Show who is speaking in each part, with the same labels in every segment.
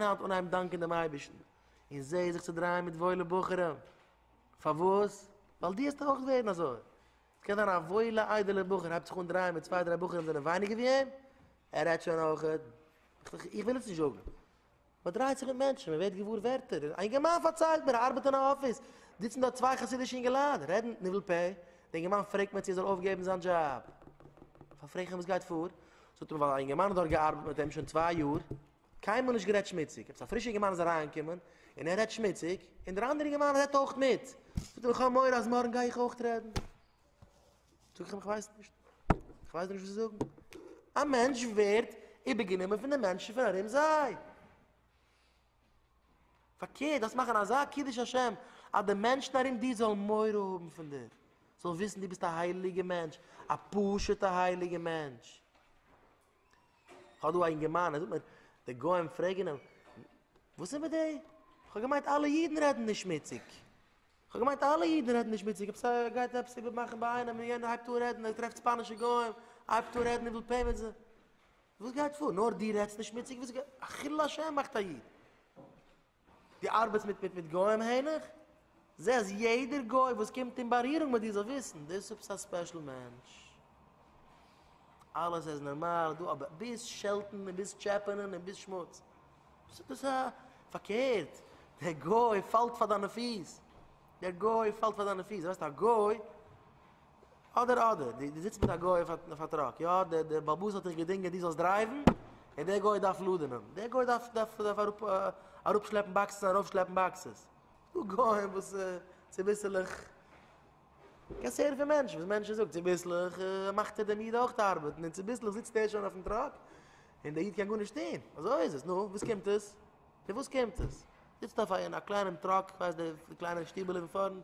Speaker 1: און פון היינט אן הייב דאנקען דעם אייבערשטן, און זע זיך צו דרייען מיט וואוילע בחורים. פארוואס? ווייל דו האסט אויך ווערן אזוי. ס'קען זיין א וואוילע איידעלע בחור הייבט זיך אן דרייען מיט צוויי דריי בחורים זענען ווייניגער ווי אים, ער רעדט שוין אויך, איך וויל עס נישט זאגן, מען דרייט זיך מיט מענטשן, מען ווערט געוואר ווערטער, א אינגערמאן פארציילט מיר ער ארבעט אין א אפיס, זיצן דארט צוויי חסידישע אינגעלייט, רעדן ניבול פה, דער אינגערמאן פרעגט מען צו ער זאל אויפגעבן זיין דזשאב, פארפרעגן אים וואס גייט פאר, זאגט ער ווייל א אינגערמאן האט דארט געארבעט מיט אים שוין צוויי יאר, קיינמאל נישט גערעדט שמוציג, עפעס א פרישע אינגערמאן איז אריינגעקומען און ער רעדט שמוציג, און דער אנדערע אינגערמאן רעדט אויך מיט, זאגט ער איך האב מורא אז מארגן גיי איך אויך רעדן, זאג איך אים איך ווייס נישט, איך ווייס נישט וואס צו זאגן, א מענטש ווערט איבערגענומען פון די מענטשן פון ארום זיי, פארקערט דארפסט מאכן אזא קידוש השם אז די מענטשן ארום דיר זאלן מורא האבן פון דיר, זאלן וויסן דו ביסט א הייליגע מענטש, א פשוטע הייליגע מענטש. כ'האב דא א אינגערמאן ער זאגט מיר די גוים פרעגן אים וואס איז מיט די כ'האב געמיינט אלע אידן רעדן נישט שמוציג כ'האב געמיינט אלע אידן רעדן נישט שמוציג עפעס ער גייט עפעס איבער מאכן ביי איינעם און יענער הייבט אן רעדן ער טרעפט ספאנישע גוים הייבט אן רעדן ער וויל פעימענט זיי וואס גייט פאר נאר די רעדסט נישט שמוציג וואס איז א חילול השם מאכט א איד דו ארבעטסט מיט מיט מיט גוים העניך? זע אז יעדער גוי וואס קומט אין בארירונג מיט דיר זאל וויסן דאס איז עפעס א ספעשל מענטש. אלעס איז נארמאל דא אבער ביז שעלטן און ביז טשעפענען און ביז שמוץ דאס איז א פארקערט דער גוי פאלט פאר דיינע פיס דער גוי פאלט פאר דיינע פיס ווייסט א גוי אדער אדער, דו זיצט מיט א גוי אויף א טראק, יא, דער באלעבאס האט דיך געדינגען דו זאלסט דרייוון, און דער גוי דארף לאדענען, דער גוי דארף דארף אראפ אראפשלעפן באקסעס ארויפשלעפן באקסעס, דא גוים וואס צוביסלעך, קענסט הערן פון מענטשן וואס מענטשן זאגט, צוביסלעך מאכט ער דעם איד אויך ארבעטן, און צוביסלעך זיצט ער שוין אויפן טראק, און דער איד קען גארנישט טון, אזוי איז עס, נו, וואס קומט עס? פון וואס קומט עס? זיצט אויף א קליינעם טראק, כ'ווייס די קליינע שטיבעלע אין פארנט.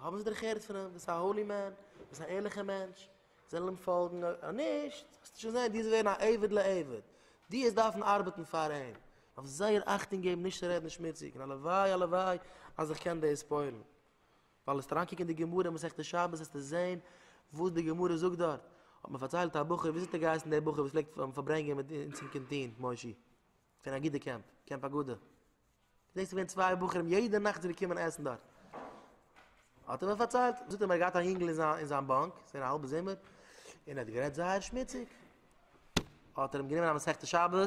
Speaker 1: האבן זיי דערעך הערט פון אים ביסט א האולי מען ביסט א ערליכע מענטש זיי זאלן אים פאלגן אויב נישט וועסטו שוין זען די זאלסט ווערן א עבד לעבד די וועסט דארפן ארבעטן פאר אים דארפסט זייער אכטונג געבן נישט צו רעדן שמוציג און הלוואי הלוואי אז איך קען דאס פועל'ן ווייל וועסט אריינקוקן אין די גמרא מסכת שבת וועסטו זען וואס די גמרא זאגט דארט האט מיר פארציילט א בחור וויאזוי האט ער געהייסן דער בחור וואס פלעגט פארברענגען מיט אונז אין קענטין מוישי פון אגודה קעמפ, קעמפ אגודה, דאס איז געווען צוויי בחורים יעדע נאכט זענען געקומען עסן דארט, האט ער מיר פארציילט, זאגט ער מיר ער האט געהאט א יונגל אין זיין באנק, ס'איז געווען א האלבע זומער, און ער האט גערעדט זייער שמוציג, האט ער אים גענומען א מסכת שבת, און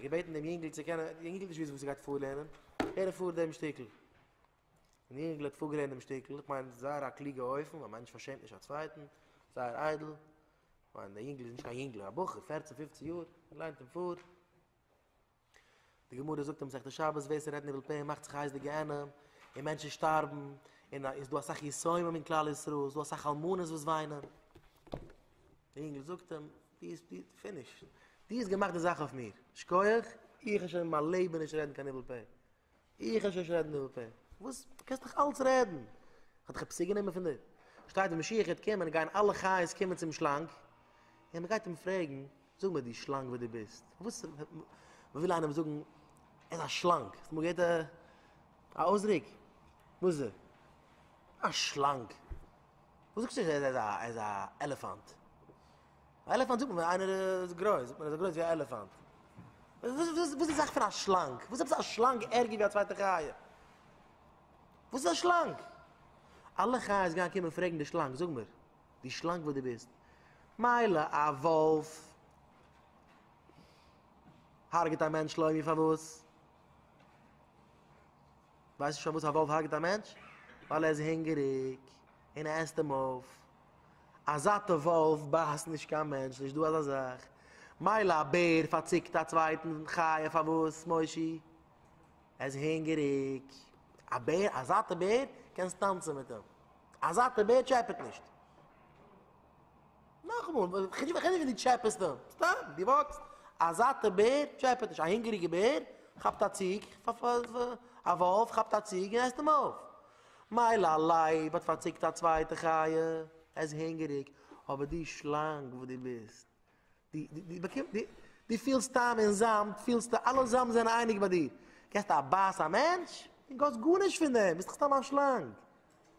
Speaker 1: געבעטן דעם יונגל צו קענען, דער יונגל האט נישט געוואוסט וואס ער גייט פארלערנען, הער איך פאר דעם שטיקל, און דער יונגל האט פארגעלערנט דעם שטיקל, איך מיין זייער א קלוגע אופן, א מענטש פארשעמט נישט א צווייטן, זייער איידל, מיין דער יונגל איז נישט קיין יונגל, א בחור פערצן פופצן יאר, ער ליינט אין פאר. די גמרא זאגט אין מסכת שבת ווער ס'רעדט ניבול פה מאכט זיך הייס די גיהנום, און מענטשן שטארבן, און עס איז דא אסאך יתומים אין כלל ישראל, עס איז דא אסאך אלמנות וואס וויינען. דער יונגל זאגט אים, דו ביסט פיניש, דו האסט געמאכט די זאך אויף מיר, שכוח, איך וועל שוין אין מיין לעבן נישט רעדן קיין ניבול פה. איך הער שוין נישט רעדן אין די פ. וואס? דו קענסט נאך אלץ רעדן? כ'האב דיך עפעס צוגענומען פון דיר? שטייט ווען משיח וועט קומען גייען אלע חיות קומען צום שלאנג און מען גייט אים פרעגן, זאג מיר דו שלאנג ווער דו ביסט? וואס? מ'וויל איינעם זאגן ער איז א שלאנג, האסט אמאל געהערט א אויסדרוק? וואס איז ער? א שלאנג? וואס זאגסטו ער איז א עלעפאנט? א עלעפאנט זאגט מען ווען איינער איז גרויס, זאגט מען ער איז גרויס ווי א עלעפאנט. וואס איז די זאך פון א שלאנג? וואס איז עפעס א שלאנג ערגער ווי א צווייטע חיה? וואס איז א שלאנג? אלע חיות גייען קומען פרעגן די שלאנג, זאג מיר, די שלאנג וואס דו ביסט, מילא א וואלף הרג'ט א מענטש לוי מיר פארוואס? ווייסט נישט פארוואס א וואלף הרג'ט א מענטש? ווייל ער איז הונגעריג. און ער עסט אים אויף. א זאטע וואלף בייסט נישט קיין מענטש, נישט דא אזא זאך. מילא א בער פארציקט א צווייטן חיה פארוואס מושי? ער איז הונגעריג. א בער, א זאטע בער, קענסט טאנצן מיט אים. א זאטע בער טשעפעט נישט. נאכאמאל, כ'רעד נישט ווען דו טשעפעסט אים, סתם דו וואקסט. א זאטע בער טשעפעט נישט. א הונגעריגע בער כאפט א ציג, א וואלף כאפט א ציג און עסט אים אויף. מילא א לייב האט פארציקט א צווייטע חי', ער איז הונגעריג, אבער די שלאנג וואס דו ביסט, דו פילסט טעם אין זאמד, פילסטו אלע זאמד זענען אייניג ביי דיר, געסט א בייס א מענטש, און גאסט גארנישט פון דעם, ביסט דאך סתם א שלאנג,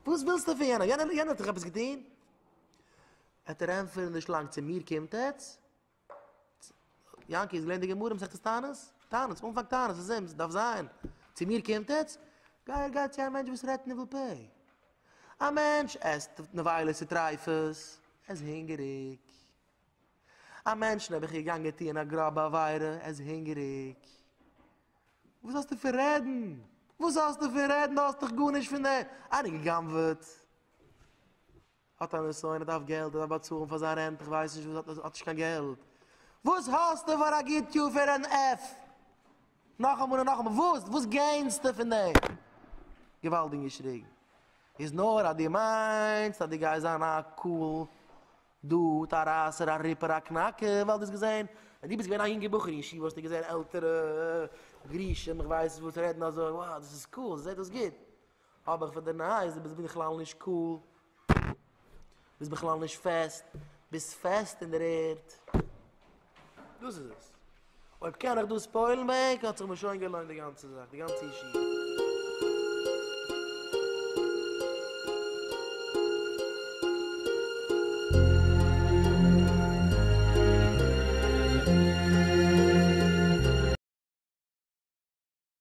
Speaker 1: וואס ווילסטו פון יענעם, יענער האט דיך עפעס געטון? וועט ער ענטפערן די שלאנג, צו מיר קומט עטץ? יענקי איז געלערנט די גמרא מסכת תענית? תענית, אנפאנג תענית, איז אים, ס'דארף זיין. צו מיר קומט עטץ? גיי גיי צו א מענטש וואס רעדט ניבול פה. א מענטש עסט נבילות וטריפות, ער איז הונגעריג. א מענטשן האב איך געגאנגען טוען א גראבע עבירה, ער איז הונגעריג. וואס האסטו פון רעדן? וואס האסטו פון רעדן? דו האסט דאך גארנישט פון דעם. איינער גע'גנב'עט? האט א נסיון ער דארף געלט ער דארף באצאלן פאר זיין רענט איך ווייס נישט וואס האט נישט קיין געלט וואס האסטו פאר א גוט יאר פאר אן עף נאכאמאל און נאכאמאל וואס וואס געינסטו פון דעם געוואלדיג געשריגן איז נאר אז דו מיינסט אז דו גייסט זיין א קאל דוד א רייסער א ריפער א קנאקער ווייל דו האסט געזען ווען דו ביסט געווען א יונגער בחור אין ישיבה האסטו געזען עלטערע גרושים איך ווייס נישט וואס רעדן אזוי וואו דאס איז קאל זיי זעט אויס גוט אבער איך וועל דיר ניין זאגן ביסט בכלל נישט קאל, ביסט בכלל נישט פעסט, ביסט פעסט אין דער ערד. דאס איז עס. אויב קען איך דאס פועל'ן בעק האט זיך מיר שוין געלוינט די גאנצע זאך, די גאנצע ישיבה.